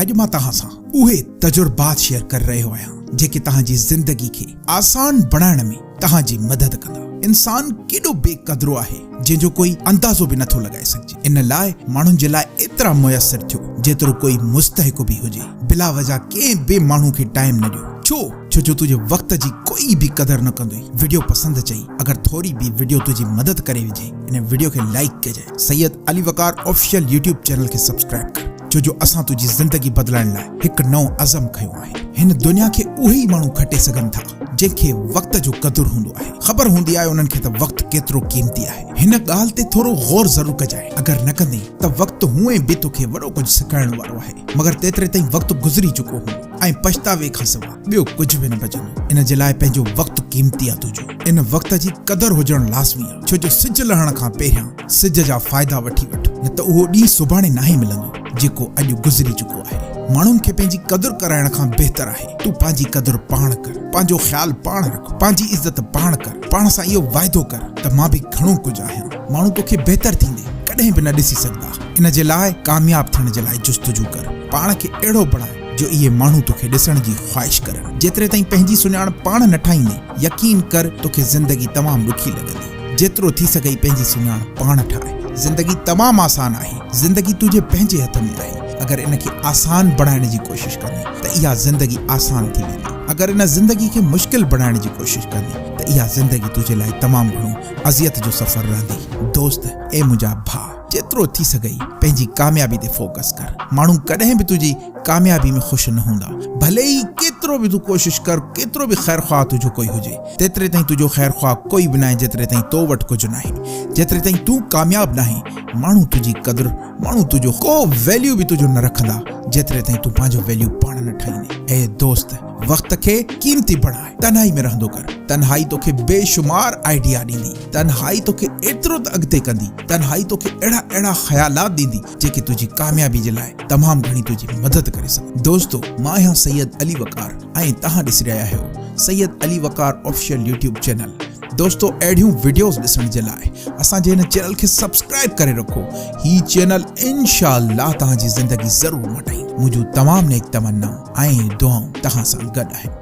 اڄ مان توهان سان اهي تجربات شيئر ڪري رهيو آهيان جيڪي توهان جي زندگي کي آسان بڻائڻ ۾ توهان جي مدد ڪندا. انسان ڪيڏو بي قدرو آهي جنهن جو ڪوئي اندازو به نٿو لڳائي سگهجي ان لاء ماڻهن جي لاء ايترا ميسر ٿيو جيترو ڪوئي مستحق به هجي بلا وجه ڪنهن به ماڻهو کي ٽائيم نه ڏيو ڇو ڇو جو تنهنجي وقت جي ڪوئي به قدر نه ڪندوئي وڊيو پسند چئي اگر ٿوري به وڊيو تنهنجي مدد ڪري وجهي ان وڊيو کي لائيڪ ڪجي. Syed Ali Waqar official YouTube channel کي سبسڪرائب ڪر ڇو جو اسان تنهنجي زندگي بدلائڻ لاء هڪ نئون عزم کنيو آهي هن دنيا کي اهي ئي ماڻهو کٽي سگهن ٿا جن کي وقت جو قدر هوندو آهي خبر هوندي آهي انهن کي ته وقت ڪيترو قيمتي آهي هن ڳالهه تي ٿورو غور ضرور ڪجانء اگر نه ڪندين ته وقت هونئن به توکي وڏو ڪجهه سکائڻ وارو آهي مگر تيتري تائين وقت گذري چڪو هوندو ۽ پڇتاوي کان سواء ٻيو ڪجهه به نه بچندو، ان جي لاء پنهنجو وقت قيمتي آ تنهنجو، ان وقت جي قدر هجڻ لازمي آ، ڇو جو سج لهڻ کان پهريان سج جا فائدا وٺي وٺ، نه ته اهو ڏينهن سڀاڻي ناهي ملندو، جيڪو اڄ گذري چڪو آهي، ماڻهن کي پنهنجي قدر ڪرائڻ کان بهتر آهي تون پنهنجي قدر پاڻ ڪر، پنهنجو خيال پاڻ رک، پنهنجي عزت پاڻ ڪر، پاڻ سان اهو واعدو ڪر ته مان به گهڻو ڪجهه آهيان، ماڻهو توکي بهتر ٿيندي ڪڏهن به نه ڏسي سگهندا، ان جي لاء ڪامياب ٿيڻ جي لاء جستجو ڪر، پاڻ کي اهڙو بڻاء. جو اهي ماڻهو توکي ڏسڻ جي خواهش ڪرن. جيتري تائين پنهنجي سڃاڻپ پاڻ نه ٺاهيندين، يقين ڪر توکي زندگي تمام ڏکي لڳندي. جيترو ٿي سگهئي پنهنجي سڃاڻپ پاڻ ٺاهه. زندگي تمام آسان آهي. زندگي تنهنجي پنهنجي هٿ ۾ آهي. اگر ان کي آسان بڻائڻ جي ڪوشش ڪندين ته اها زندگي آسان ٿي ويندي. اگر ان زندگي کي مشڪل بڻائڻ جي ڪوشش ڪندين ته اها زندگي تنهنجي لاء تمام گهڻو اذيت جو سفر رهندي. دوست، اي منهنجا ڀاء! جيترو ٿي سگهئي پنهنجي ڪاميابي تي فوڪس ڪر. ماڻهو ڪڏهن به تنهنجي ڪاميابي ۾ خوش نه هوندا. ڀلي ئي ڪيترو به تون ڪوشش ڪر، ڪيترو به خير خواه تنهنجو ڪوئي هجي، تيتري تائين تنهنجو خير خواه ڪوئي به ناهي جيتري تائين تو وٽ ڪجهه ناهي. جيتري تائين تون ڪامياب ناهين، ماڻهو تنهنجي قدر، ماڻهو تنهنجو ڪو ويليو به تنهنجو نه رکندا، جيتري تائين تون پنهنجو ويليو پاڻ نه ٺاهيندين. اي دوست! وقت کي قيمتي بڻاء. تنهائي ۾ رهندو ڪر. تنهائي توکي بيشمار آئيڊيا ڏيندي. تنهائي توکي ايترو ته اڳتي ڪندي. تنهائي توکي اهڙا اهڙا خيالات ڏيندي جيڪي تنهنجي ڪاميابي جي لاء تمام گهڻي تنهنجي مدد ڪري سگهن دوستو مان آهيان سيد علي وقار ۽ توهان ڏسي رهيا آهيو Syed Ali Waqar official YouTube channel دوستو اهڙيون وڊيوز ڏسڻ جي لاء اسان جي هن چينل کي سبسڪرائب ڪري رکو هي چينل انشاء الله توهان جي زندگي ضرور مٽائي منهنجون تمام نيڪ تمنا ۽ دعائون توهان سان گڏ آهن